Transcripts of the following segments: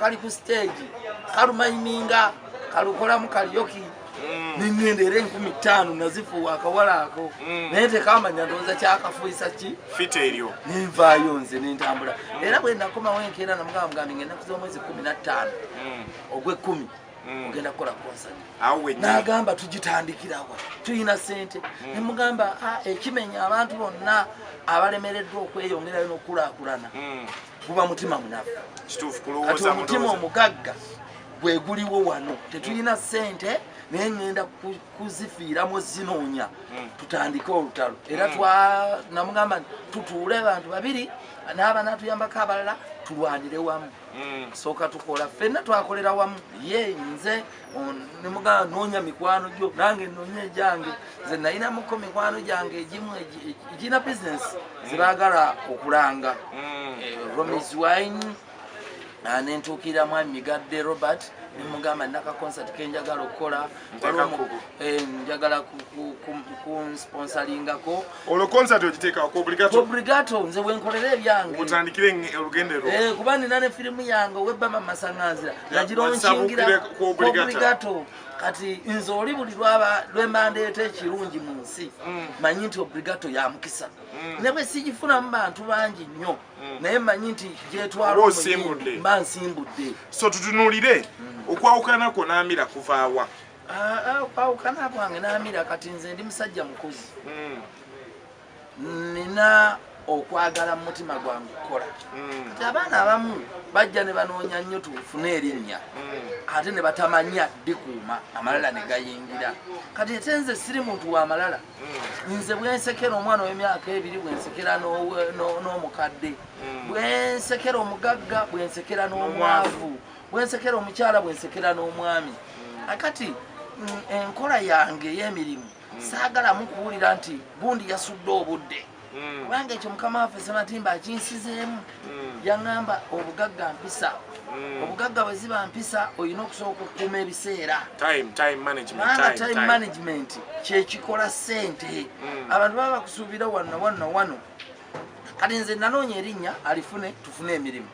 kali ku stage kalumayiminga kalukolamu kalyoki mm. nengenda era enkumi ttaano nazifuwa akawala ako mm. naye tekamanya ndowooza kyakafuisa ki fita eryo nenvaayo nze nentambula era bwe nakomawo enkeera namugamugambye ngenda kuza omwezi kumi na ttaano mm. ogwekumi Mm. ogenda kukola konsani nagamba tugitandikirawa tulina sente mm. nemugamba ah, ekimenya abantu bonna abalemereddwa okweyongerayo nokukulakulana mm. guba mutima munafu kati omutima omugagga gwe guliwo wano tetulina sente naye ŋŋenda kuzifiiramu zinoonya hmm. tutandike olutalo era hmm. twanamugamba nti tutuule abantu babiri n'abanaatuyambako abalala tulwanire wamu hmm. sooka tukola ffenna twakolera wamu ye nze nemugamba noonya mikwano gyo nange noonya egyange nze nayinamuko mikwano gyange egimu egirina bisinesi zebagala okulanga mm. eh, romis wine ah, nentuukirira mwami migadde robert nemugamba naka concert kenjagala okukola eh, njagala kunsponsalingako Olwo concert ogiteeka ku obligato? Ku obligato nze wenkolera ebyange. Mutandikire olugendo lwo. Eh kuba nina ne firimu yange ow'ebba mama Masanganzira. Nagira onkingira ku obligato. Kati nze oli buli lwaba lwemandeeta ekirungi mu nsi mm. manyi nti obligato ya mukisa. Mm. Ne bwe sigifunamu bantu bangi nnyo mm. naye manyi nti gyetwala omuyimbi mba nsimbudde. So tutunuulire okwawukana kwo n'amira kuvaawa? Ah, ah, okwawukana kwange namira kati nze ndi musajja mukozi hmm. nina okwagala mu mutima gwange okukola hmm. kati abaana abamu bajja ne banoonya nnyo tufune erinnya hmm. ate ne batamanya dikuuma amalala ne gayingira kati ate nze siri muntu wa malala nze bwensekera omwana ow'emyaka ebiri bwensekera n'omukadde bwensekera omugagga bwensekera n'omwavu bwensekera omukyala bwensekera n'omwami mm. akati mm, enkola yange ey'emirimu mm. saagalamu kuwulira nti gundi yasudde obudde kubanga ekyo mukama waffe sematimba akinsizeemu yaŋamba obugagga mpisa obugagga bwe ziba mpisa olina okusooka okukuuma ebiseera kubanga time management kyekikola ssente abantu baba bakusuubira wanna wanna wano kati nze nanoonya erinnya alifune tufune emirimu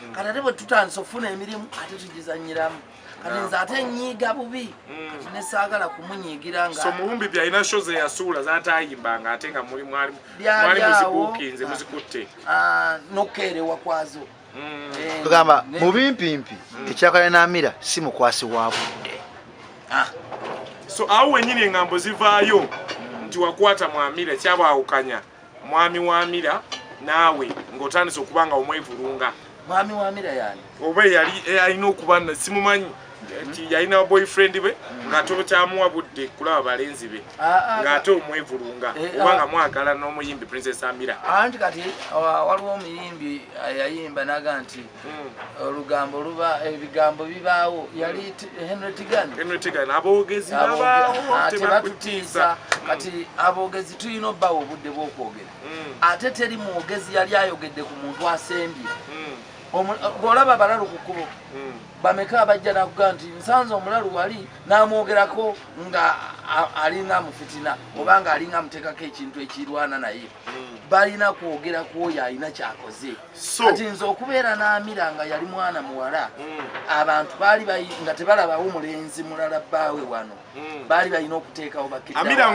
mm. kati ate bwetutandisa okufuna emirimu ate tugizanyiramu kati nze ate nyiiga bubi mm. kati nesaagala kumunyiigira nga so muwumbi byalina sho zeyasuula zatayimbanga ate nga mwali muzibuukinze muzikutte ah, nokukeerewa kwazo mm. eh, tugamba mubimpimpi ekyakala namira si mukwasi wa budde ah. so awo wenyini engambo zivaayo nti wakwata mwamira kyabawukanya Mwami Wamira naawe ng'otandise okuba nga omwevulunga. Mwami Wamira yani? Oba eyali alina okuba na simumanyi nti yalina boyfriend be ng'ate okyamuwa budde kulaba balenzi be ah, ah, ng'ate ah. omwevulunga oba nga mwagala n'omuyimbi Princess Amira. Anti kati waliwo omuyimbi yayimba naga nti olugambo luba ebigambo bibaawo yali henry tigan henry tigan aboogezi babaawo ah, tebatutiisa mm. kati aboogezi tulina obbaawo obudde bw'okwogera mm. ate teri mwogezi yali ayogedde ku muntu asembye mm. bw'olaba abalalu ku kkubo bameka abajja nakuga nti nsanze omulalu wali n'amwogerako nga alinga amufitina oba nga alinga amuteekako ekintu ekirwana naye balina kwogera ku oyo alina kyakoze kati nze okubeera n'amira nga yali mwana muwala hmm. abantu baali nga tebalabawo mulenzi mulala bbaawe wano hmm. baali balina okuteekawo bakiraera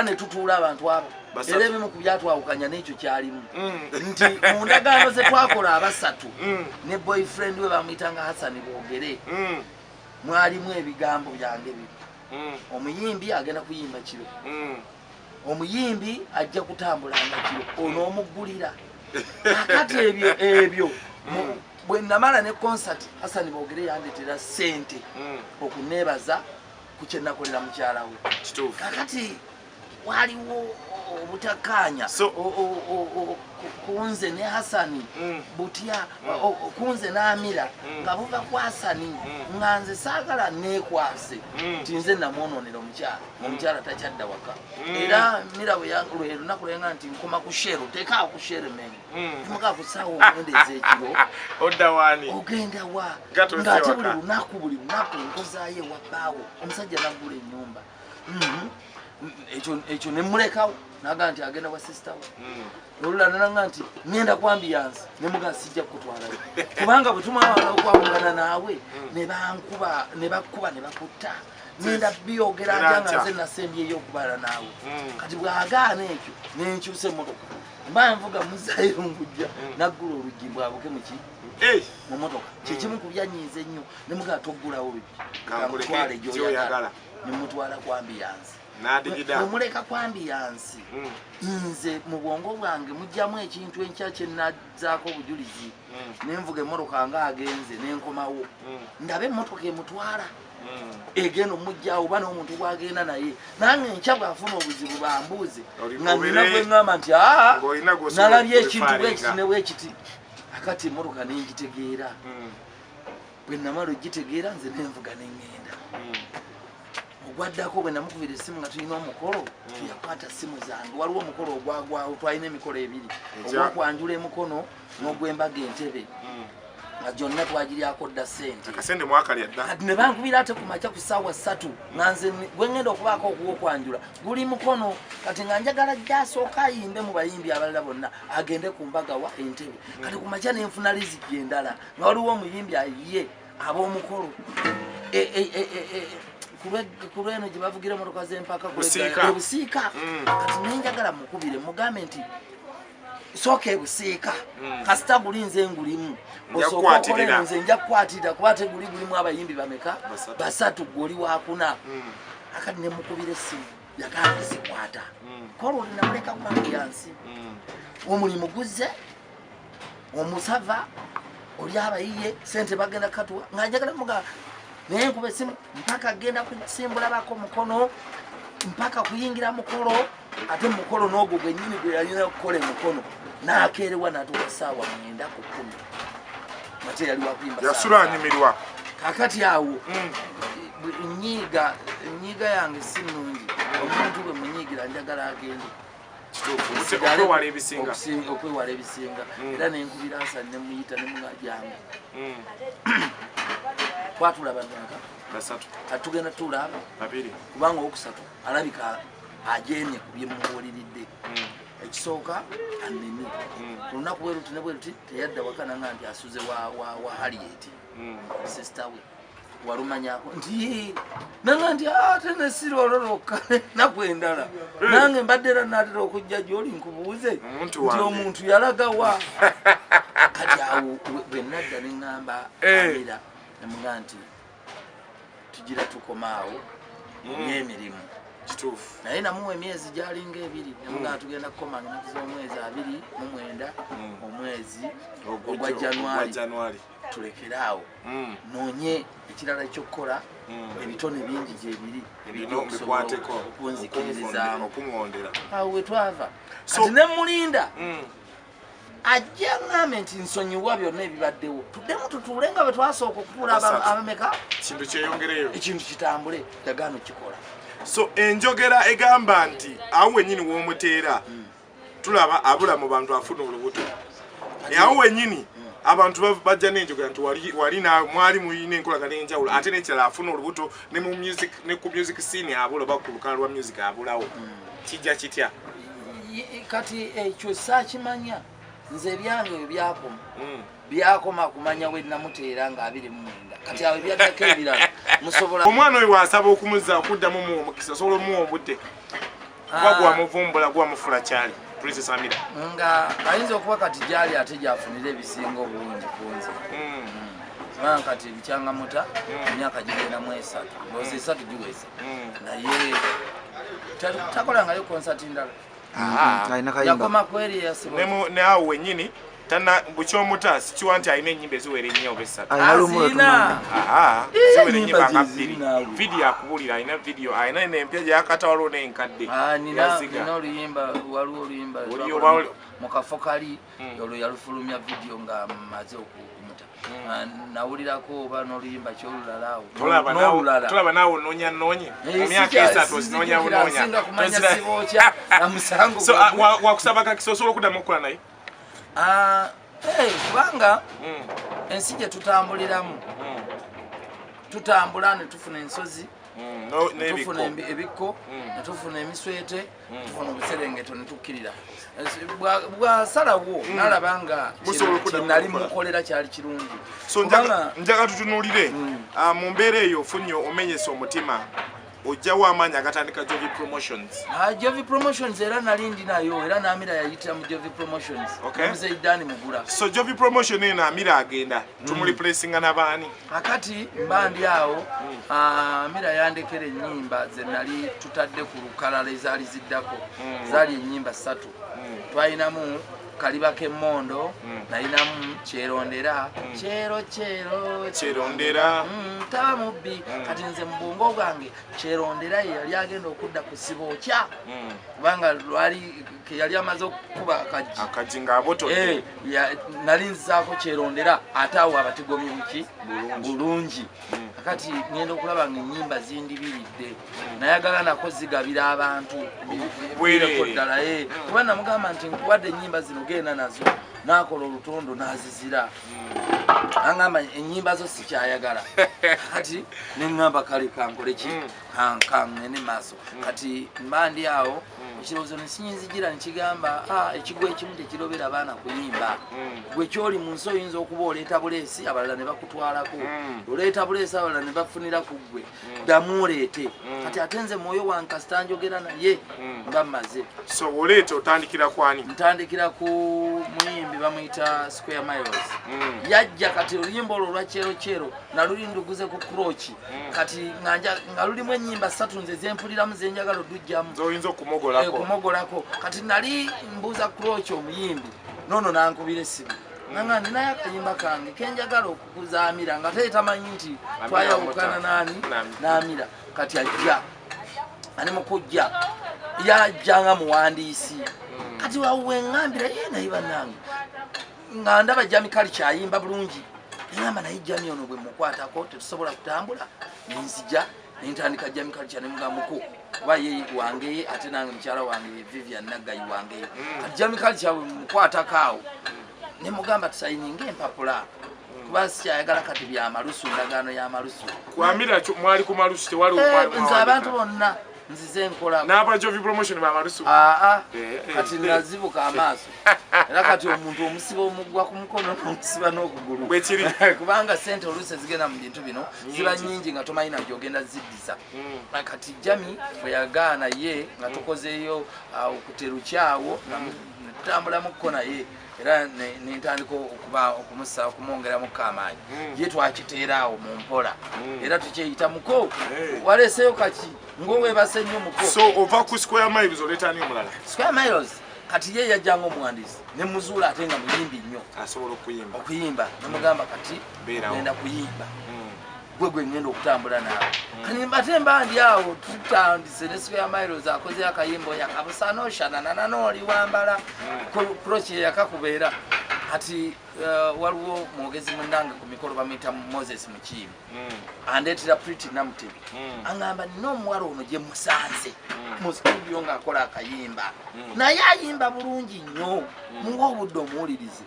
ne tutuula abantu abo era ebimu ku byatwawukanya n'ekyo kyalimu hmm. nti mu ndagaano ze twakola abasatu ne boyfriend we bamuyita nga hasani boogere mwalimu ebigambo byange bino mm. omuyimbi agenda kuyimba kiro mm. omuyimbi ajja kutambula nga kiro mm. onoomuggulira akati ebyo ebyo mm. bwe namala ne konsati hasani bogere yandetera sente mm. okuneebaza ku kyenakolera mukyala we kakati waliwo obutakkaanya kunze ne hasani mm. butya mm. kunze n'amira mm. nga buva ku hasani nga nze saagala neekwase nti nze namwonoonera omukyala omukyala takyadda waka era mira lwe lunaku lwenga nti nkoma ku sheero teekaawo ku sheero emengo imukaa ku saawa omwenda ez'ekiro ogenda wa ng'ate buli lunaku buli lunaku nkozaayo ewa bbaawo omusajja naggula ennyumba Mm-hmm. ekyo ekyo ne mulekawo naga nti agenda wa sister we mm. olula nanga nti ngenda kwambiyansi ne muga sijja kutwala kubanga bwe tumawala okwawulana naawe mm. ne bankuba ne bakuba ne bakutta ngenda byogera ata nga nze nasembyeyo okubala naawe mm. kati bwagaana ekyo nenkyusa emotoka mba nvuga muzayirungujja naggula oluggi mbwabuke muki mu motoka kyekimu ku byanyiiza ennyo ne mugala toggulawo bibitwale gyoyagala ne mutwala kwambi yansi nomuleka kwambi yansi hmm. nze mu bwongo bwange mujjamu ekintu enkya kyenazaako obujulizi hmm. nenvuga emotoka nga agenze nenkomawo hmm. ndabe emotoka emutwala egenda omujja oba n'omuntu gwagenda naye nange nkya bwafuna obuzibu bambuuze nga nina gweŋamba nti aa nalabye ekintu bwekiti ne bwekiti akati emotoka nengitegeera hmm. bwenamala ogitegeera nze nenvuga nengenda hmm. ogwaddako bwenamukubira esimu nga tulina omukolo hmm. tuyakwata simu zange waliwo omukolo ogwagwawo twalina emikolo ebiri ogwokwanjula emukono nogwembaga entebe nga gyonna twagiryako dda sente ne bankubira ate ku makya ku saawa ssatu nga nze gwengenda okubaako okuwokwanjula guli mukono kati nga njagala gyasooka ayimbe mu bayimbi abalala bonna agende ku mbaga wa entebe kati ku makya ne nfuna liziki endala nga waliwo omuyimbi ayiye ab'omukolo e, e, e, ku lweno gye bavugira emotoka z'empaka obusiika mm. kati naye njagala mukubire mugambe nti sooka ebusiika mm. kasita guli nze ngulimu osooka okolera nze nja kukwatirira kuba ate guli gulimu abayimbi bameka basatu gwoli wakuna mm. akati nemukubira essimu yagambye zikwata mm. kolwo linamuleka kubantu yansi mm. omulimu guzze omusava oli abayiye sente bagenda katuwa ng'anjagala muga naye nkuba esimu mpaka agenda kusimbulabako mukono mpaka kuyingira mukolo ate mukolo n'ogwo gwennyini gwe yalina okukola emukono n'akeerewa natuka saawa mwenda ku kumi yasula anyumirwa kakati awo hmm. nyiiga enyiiga yange si nungi omuntu bwe munyiigira njagala agende okwewala ebisinga hmm. era nenkubira nsa nemuyita nemunajanga hmm. twatula bamyaka atugenda tulaaba kubanga owokusatu alabika ajemye ku byemubuuliridde ekisooka anene mm. ku lunaku bwe luti ne bwe luti teyadda waka nanga nti asuze wa hariyeti mm. sisita we walumanyako nti nanga nti ate ah, nesiri olwo lwokka enaku endala mm. nange mbadde era naatera okujja gyoli nkubuuze nti omuntu yalagawa kati awo bwe nadda ne ŋŋamba eh. abera nemuga nti tugira tukomaawo mubyemirimu mm. naye namuwa emyezi gyalinga ebiri nemugaa mm. tugenda kukoma lunaku z'omwezi abiri mu mwenda mm. omwezi ogwa januari tulekere awo nonye ekirala ekyokukola ebitone bingi gyebiri ebiriokusoboaokunzikiririzaamu awo wetwava kati nemulinda ajja ngambe nti nsonyiwa byonna ebibaddewo tuddemu tutuule nga bwe twasooka okutuula abameka ekintu kyeyongereyo ekintu kitambule yagaana okukikola so enjogera egamba nti awo wenyini womuteera hmm. tulaba abula mu bantu afuna olubuto awo wenyini abantu bajja nenjogera nti wali mwali mulina enkolagana enjawulo ate nekirala afuna olubuto ne ku music scene abula oba ku lukala lwa music abulawo hmm. kijja kitya kati ekyo eh, saakimanya nze ebyange ebyo byakoma hmm. byakoma kumanya we namuteera nga abiri mu mwenda kati awo ebyaddako ebirala musobola omwana oyo wasaba okumuza okuddamu mu omukisa osobola omuwa obudde kuba ah. gwamuvumbula gwamufula kyali princess amira nga ayinza okuba kati gyali ate gyafunira ebisinga obulungi kunze hmm. hmm. kati ebikyangamuta emyaka gigenda mu esatu ozi esatu giweza mm. naye takolangayo konsati ndala neawo wenyini tana bukyomuta sikiwa nti alina enyimba eziwera ennya oba esatuziwera enyimba nga bbiri vidiyo akubulira alina vidiyo alina nempya gyakata waliwo nenkadde yaziga mukafo kali hmm. olwo yalufulumya vidiyo nga maze okumuta hmm. ah, nawulirako oba noluyimba kyolulalaawonolulalaolaba naawe ononya noonyi eh, mumyaka esatu osinonya bunoonyasinga kumanya sibokya amusango ah, wakusaba kakisa osobola okudamu okukola naye ah, eh, kubanga hmm. ensi gye tutambuliramu tutambula ne tufuna ensozi tufuna ebikko ne tufuna emiswete ono buserengeto netukkirira bwasalawo hmm. nalaba nga kinali mukolera kyali kirungi so njaga tutunulire hmm. ah, mu mbeera eyo ofunye omenyesa omutima ojjawo amaanyi agatandika jovi promotions ah, jovi promotions era nali ndi nayo era naamira yayitira mu jovi promotions omuzeidani mugula so jovi promotion eno amira agenda hmm. tumulipulesinga nabaani kakati mba ndi awo hmm. ah, mira yandekera enyimba zenali tutadde ku lukalala ezaali ziddako hmm. zaali enyimba satu twalinamu kaliba kemondo nalinamu kyerondera kyero kyero kyerondera taba mubbi kati nze mubwongo bwange kyerondera yeyali agenda okudda ku siba okya kubanga lwali keyali amaze okukuba akajji akajji ngaaboto eh. nali nzizaako kyerondera ate awo abatigomye muki bulungi hmm. kakati ngenda okulaba nga enyimba zindibiridde hmm. nayagala nako zigabira abantu bwereko ddala eh. hmm. kuba namugamba nti nkuwadde enyimba zino genda nazo nakola olutondo nazizira angamba enyimba zo sikyayagala kati neŋamba kale kankoleki kaŋŋende maaso kati mbandi awo ekirowoozo nekinyinzijira nekigamba ah, ekigwa ekimu tekirobera baana kuyimba hmm. gwe kyoli mu nsi oyinza okuba oleeta buleesi abalala ne bakutwalako hmm. oleeta buleesi abalala ne bafunira ku ggwe hmm. ddamu oleete kati ate nze mwoyo wankasita njogera naye mba mmaze so oleeta otandikira kwani ntandikira ku muyimbi bamuyita square miles yajja kati oluyimba olwo olwa kyero kyero naluli nduguze ku kroki mm. kati nga lulimu enyimba satu nze zempuliramu zenjagala odujjamu oyinza okumogolako eh, kati nali mbuuza kuloki omuyimbi nono nankubira esimu nanga ninaye akayimba kange kenjagala okukuza amira nga tee tamanyi nti twayawukana nani namira kati ajja ani mukujja yajja nga muwandiisi mm. kati wawuwe ngambira ye naye banange nga ndaba jami kali kyayimba bulungi namba naye jami ono bwe mukwatako tetusobola kutambula nenzija nentandika jami kali kya nemugamuku kuba ye wangeye ate nange mukyala wange vivian naggayi wangeye mm. kati jami kali kyawe mukwatako awo nemugamba tusayininga empapula mm. kuba sikyayagala kati byamalusu ndagaano yamalusu kwamira mwali ku malusu tewali eh, nze abantu bonna nzize nkola naba jovi promotion ba marusu ah ah kati nazibuka amaso era kati omuntu omusiba omugwa ku mukono n'omusiba n'okugulu bwekiri kubanga sente oluusi ezigenda mu bintu bino ziba nyingi nga tomanyi najo ogenda ziddiza hmm. kati jami bwe yagaana ye nga tukozeeyo ah, okuterukyawo hmm. natutambulamu kko naye era nentandika okuba okumusa okumwongeramu kamaanyi hmm. ye twakiteera awo mu mpola hmm. era tukyeyita muko waleeseyo kaki ngowebase nnyo muko so ova ku square miles oleetani omulala square miles kati ye yajja nga omuwandiisi ne muzuula ate nga muyimbi nnyo asobola okuyimba okuyimba nemugamba kati genda kuyimba hmm. gwe gwe ngenda okutambula naawe hmm. kani mbate mba ndi awo tutandise ne square miles akoze akayimbo yakabusaana oshananana nooli wambala hmm. kroki yeyakakubeera kati uh, waliwo mwogezi munange ku mikolo bamuyita moses mukiibi hmm. andeetera priti namutebi aŋamba nina omuwala ono gye musanze mu studio ng'akola akayimba naye ayimba bulungi nnyo muwa obudde omuwulirize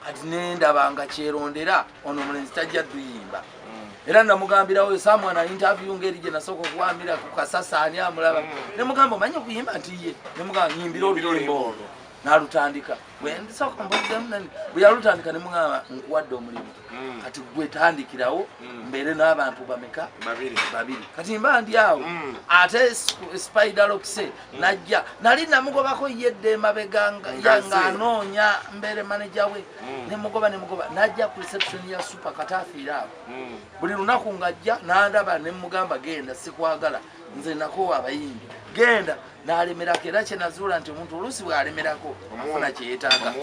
kati nendaba nga kyerondera ono omulenzi tajja duyimba mm. era namugambirawo esamwana interview ngeri gye nasooka okuwamira ku kasasa ani amulaba mm. ne mugamba omanye okuyimba nti ye ne mugamba nyimbira oluyimba olwo nalutandika bwendisooka mbuddemu nani bwe yalutandika ne mugamba nkuwadde omulimu mm. kati gwetandikirawo mbeere n'abantu bameka babiri kati mba ndi awo ate spiderokse najja nali namugobako yedde emabega nga anoonya mbeere maneja we mm. nemugoba nemugoba najja ku reception ya super katafiira abo mm. buli lunaku ngajja nandaba nemugamba genda sikwagala nze nakowa abayimbi genda nalemerako era kyenazuula nti omuntu oluusi bwalemerako afuna kyeyetaaga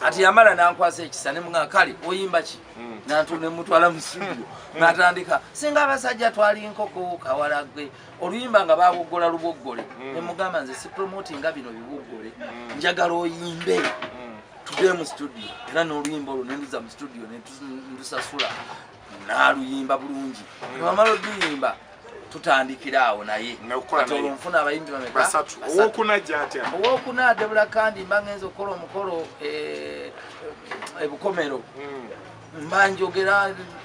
ati yamala nankwasa ekisa nemuga kale oyimba ki mm. nantu nemutwala mu studio natandika singa abasajja twali nkoko kawalagwe oluyimba nga baboggola luboggole mm. ne mugamba nze sipromoti nga bino biboggole mm. njagala oyimbe mm. tudee mu studio era n'oluyimba olwo nenduza mu studio nendusasula naluyimba bulungi nebamala oluyimba tutandikira awo naye olunfuna abayimbi bamekaowokuna adebula kandi mba ngenza okukola omukolo ebukomero eh, eh, mba njogera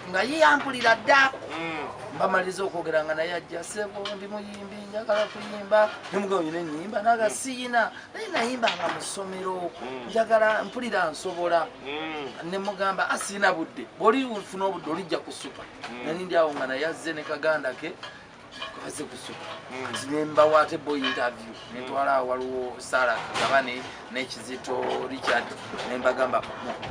nga ye yampulira dda mm. mbamaliriza okwogera nga naye ajja sebo ndi muyimbi njagala kuyimba nemugaonyi nenyimba naga mm. siyina naye nayimba nga musomero mm. njagala mpulira nsobola nemugamba asiyina ah, budde bwolifuna obudde olijja kusuka nali ndi awo nga naye azze ne kaganda ke aze kusuka hmm. kati nembawo ate boy interview hmm. netwala waliwo sara kagabane nekizito richard nembagamba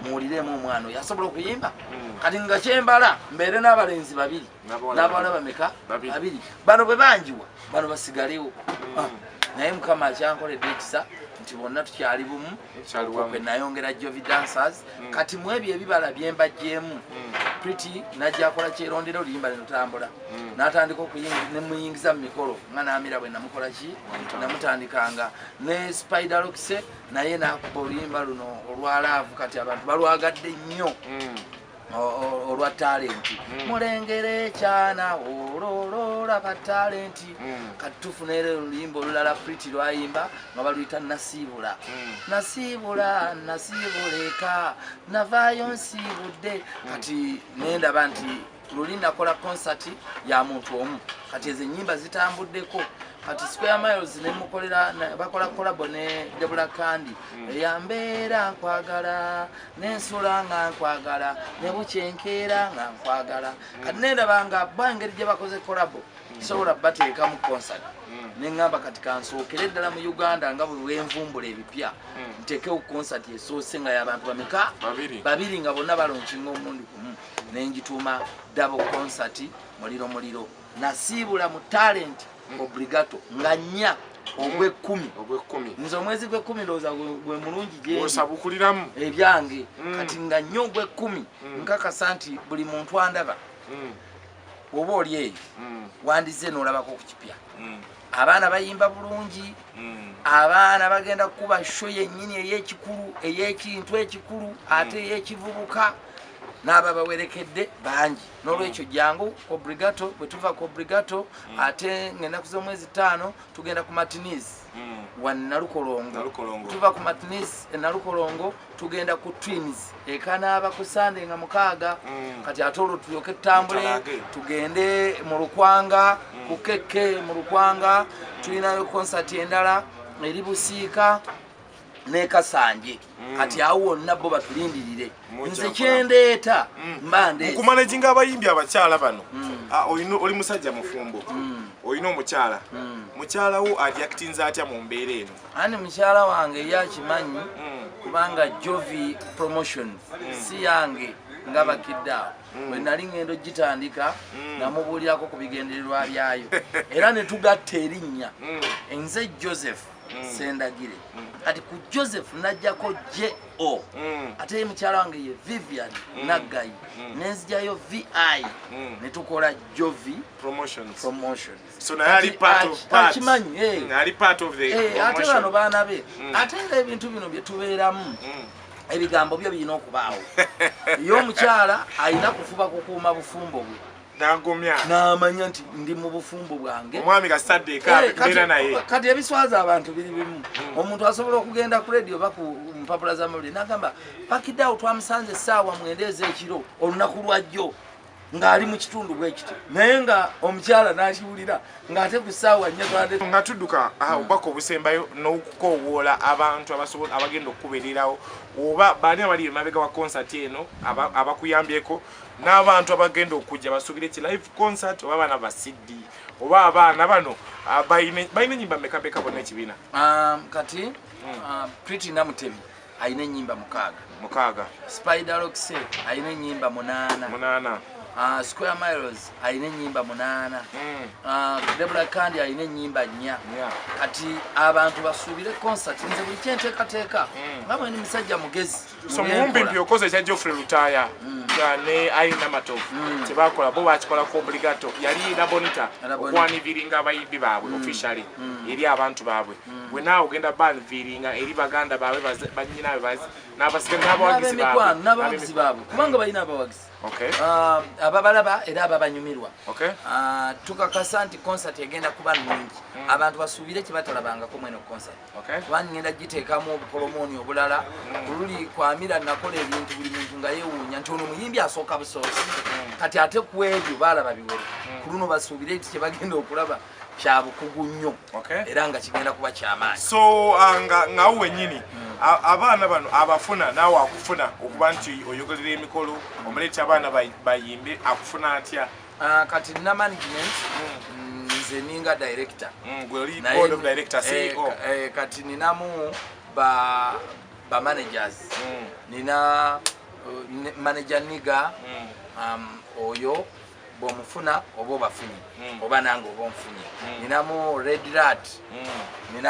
muwuliremu omwana oyo asobola okuyimba hmm. kati nga kyembala mbeere n'abalenzi babiri n'abawala bameka babiri bano bwe banjiwa bano basigalewo ah, naye mukama akyankoledde ekisa nti bonna tukyali bumu kwe nayongera jovi dancers mm. kati mu ebyo ebibala byembajjeemu mm. priti nagyakola kyerondera oluyimba nenotambula mm. natandika nemuyingiza mu mikolo nga namira bwe namukola ki namutandikanga ne spider lokise naye nakuba oluyimba luno olwa laavu kati abantu balwagadde nnyo mm. olwa talenti hmm. mulengera ekyana olololaba talenti hmm. katufunere oluyimba olulala priti lwayimba nga baluyita nasiibula hmm. nasiibula nasiibuleka navaayo nsiibudde kati nendaba nti luli nakola konsati ya muntu omu kati ezo enyimba zitambuddeko kati square miles nemukolera bakola kolabo ne debula kandi eyambeera nkwagala nensula nga nkwagala nebukya enkeera nga nkwagala mm. kati nendaba nga ba engeri gye bakoze kolabo mm. sobola bateeka mu concert mm. neŋamba kati kansookere ddala mu uganda nga buli wenvumbula ebipya ntekewo concert esoose nga yabantu bameka babiri nga bonna balonkinga omundi gumu nengituuma dabo concert muliro muliro nasiibula mu talent mm. obligato nga nnya mm. ogwekkumi ogwekkumi nze omwezi gwekkumi ndowooza gwe mulungi gyeosabukuliramu ebyange mm. kati nga nnya ogwekkumi nkakasa nti buli muntu andaba oba oli eyo wandizze n'olabako ku kipya abaana bayimba bulungi abaana bagenda kukuba sho yennyini ey'ekikulu ey'ekintu ekikulu ate ey'ekivubuka n'ababawerekedde bangi nolwekyo jangu ku brigato bwetuva ku brigato mm. ate ngaenaku zomwezi taano tugenda ku matinis mm. wanalukolongo tuva ku matinis enalukolongo tugenda ku twins ekanaaba ku sande nga mukaaga mm. kati ate olwo tulyoke tutambule tugende mu lukwanga ku keke mu lukwanga tulinayo konsati endala eri busiika nekasanje Mm. kati awo wonna bo batulindirire nze kyendeeta mm. mba ndekumanaginga abayimbi abakyala bano mm. ah, oli musajja mufumbo olina omukyala mukyala wo ajaktinze atya mu mbeera eno ani mukyala wange yakimanyi kubanga jovi promotion si yange nga bakidde awo wenali ngendo gitandika namubuulirako ku bigendererwa byayo era netugatta erinnya nze joseph mm. sendagire mm. kati ku joseph najjako jo mm. ate ye mukyala wange ye vivian mm. naggayi mm. nenzijayo vi mm. ne tukola jovi promotionsakimanyi eh. mm, eh, ate bano baana be mm. ate nga ebintu bino bye tubeeramu mm. ebigambo byo birina okubaawo ye omukyala alina kufuba kukuuma bufumbo bwe nagumya namanya nti ndi mu bufumbo bwange omwami kasadde ekabeera eh, naye kati ebiswaza abantu biri bimu hmm. omuntu asobola okugenda ku radio oba ku mpapula z'amawulire nagamba pakidawo twamusanze essaawa mwenda ez'ekiro olunaku lwajjo ng'ali mu kitundu bwekiti naye nga omukyala n'akiwulira ng'ate ku ssaawa nnyo twade nga tudduka ah, hmm. obubaka obusembayo n'okukoowoola abantu abasobola abagenda okukubererawo oba baani abali emabega wa konsati eno abakuyambyeko n'abantu abagenda okujja basuubire ki live concert oba abaana ba cd oba abaana bano ah, balina enyimba mekabeka bona ekibiina um, kati hmm. uh, priti namutebi alina enyimba mukaaga mukaaga spiderokse alina enyimba munaana munaana uh, square miles alina enyimba munaana hmm. uh, debula kandi alina enyimba nnya kati abantu basuubire concert nze buli kyenteekateeka hmm. nga mweni musajja mugezi so muwumbi mpi okoze ekya geoffrey lutaya mm. ne aina matovu mm. kyebakola bo bakikola ku obligato yali labonita okwaniviringa abayimbi baabwe mm. officially eri abantu baabwe wena ogenda banviringa eri baganda baabwe banyinabe nabasika nabawagizi baabwe kubanga balina abawagizi ah, ababalaba era ababanyumirwa ah, tukakasa nti concert egenda kuba nungi abantu basuubire kyebatalabangako mweno concert kubanga ngenda giteekamu obukolomooni obulala oluli kwamira nakola ebintu buli muntu nga yewuunya nti ono muyimbi asooka busoosi kati ate ku ebyo baalaba biwere mm. ku luno basuubire nti kye bagenda okulaba kya bukugu nnyo era nga kigenda kuba kyamaanyi so uh, ngawo wenyini mm. abaana bano abafuna naawe akufuna okuba nti oyogerera emikolo omuleeta abaana bayimbe akufuna atya Ah, kati nina management mm, nze ninga director mm, e eh, eh, kati ninamu ba ba managers mm. nina uh, manager niga um, oyo bwomufuna oba obafunye hmm. oba nange oba onfunye hmm. ninamu red rat hmm.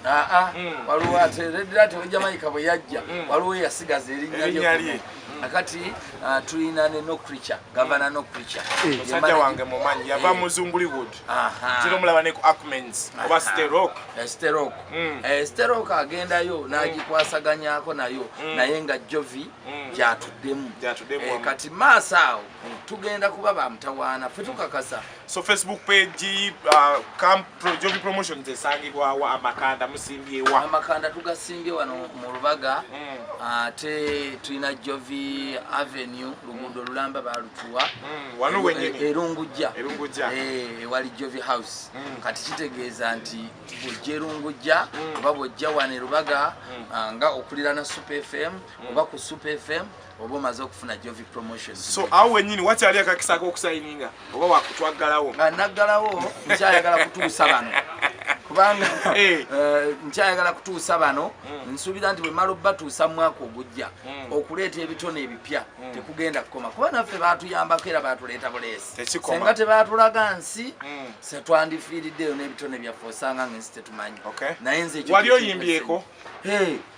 ah, ah. waliwo ate red rat owejamaika bwe yajja waliwo yasigaza erinnya lye akati uh, tulina ne no creature gavana no creature eh. musajja wange mumanyi yava eh. muzunguli wood kiro mulaba ne ku acmens oba sterok eh, sterok mm. sterok agendayo mm. nagikwasaganyako nayo mm. naye nga jovi gyatuddemu kati maaso awo tugenda kuba bamutawaana fe tukakasa so facebook page uh, camp pro, jovi promotions esangibwawo amakanda musimbyewa amakanda tugasimbye wano mu lubaga mm. ate mm. uh, tulina jovi avenue luguudo lulamba balutuwa mm. erungujja eh, wali jovi house mm. kati kitegeeza nti bwojja erungujja mm. oba bwojja wano erubaga mm. uh, nga okulirana super fm mm. oba ku super fm oba omaze okufuna jovi promotion so awo wenyini wakyali akakisa akokusayininga oba wakutwaggalawo nga naggalawo nkyayagala kutuusa bano kubanga eh. Eh, nkyayagala kutuusa bano hmm. nsuubira nti bwemala obatuusa mwaka ogujja hmm. okuleeta ebitone ebipya hmm. tekugenda kukoma kuba naffe batuyambako era batuleeta buleesi senga tebatulaga nsi setwandifiiriddeyo n'ebitone byaffe osanga nga ensi tetumanyi naye nze wali oyimbyeko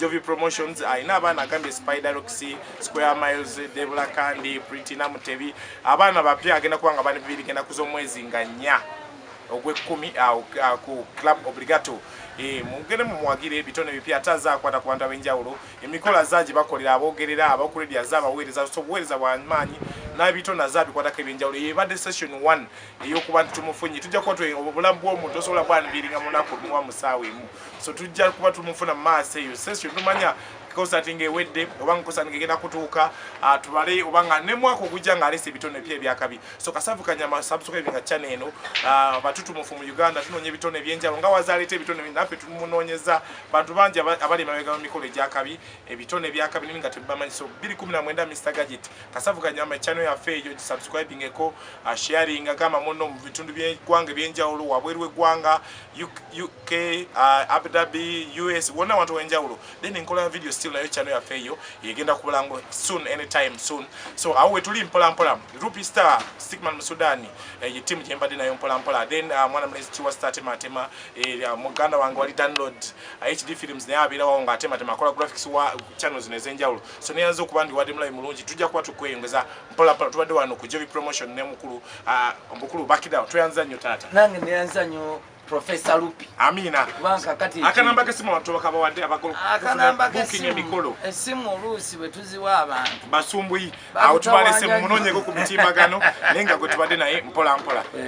Jovi Promotions alina abaana agambye Spider Rocks, Square Miles, Debula Kandi, Pretty Namutebi. Abaana bapya agenda kuba nga bani bibiri genda kuza omwezi nga nnya ogw'ekkumi ku Club Obligato. E, mugende mumuwagire ebitone bipya ate aze akwata ku bantu ab'enjawulo. Emikolo aze agibakolera aboogerera, aba ku radio aze abaweereza, so obuweereza bwa maanyi n'ebitone aze abikwatako eby'enjawulo. Eyo ebadde session one. eyokuba nti tumufunye tujja kuba obulamu bwomuntu osobola bwanviiringa munaku luwa musaawa emu so tujja kuba tumufuna mu maaso eyo session tumanya konsati nga ewedde oba nga konsati nga egenda kutuuka ah, tubale oba nga ne mwaka ogujja nga alese ebitone epya ebyakabi so kasavu kanyama subscribe nga chana eno ah, batutumufu mu uganda tunoonya ebitone ebyenjawulo nga wazaleeta ebitone naffe tumunoonyeza bantu bangi abali emabega mu mikolo egyakabi ebitone ebyakabi nimi nga tebibamanyi so 219 mr gadget kasavu kanyama echano yafe ejo gisubscribing eko uh, sharing agamba muno mu bitundu byegwanga ebyenjawulo wabweru wegwanga uk uh, abu dhabi us wona abantu wenjawulo then nkola ya video still nayo chano yafe eyo yegenda kubulango soon anytime soon so awo wetuli mpola mpola rupi star stickman musudani eh, ye team jembade nayo mpola mpola then uh, mwana mlezi chiwa star tema tema eh, uh, muganda wangu wali download uh, hd films naye abira wao nga tema tema kola graphics wa channels nezenjawulo soneyanza okuba ndi wadde mulayi mulungi tujja kuba tukweyongeza mpolapola tubadde wano ku jovi promotion ne mukulu ah, omukulu bakidawo tweyanza nnyo taata nange neyanza nnyo professor lupi amina kubanga kati akanamba kesimu abantu bakabawadde abakulu akanamba kesimu emikolo esimu oluusi bwe tuziwa abantu basumbuyi awo tubalese munonyeko ku mitimbagano naye nga gwe tubadde naye mpola mpola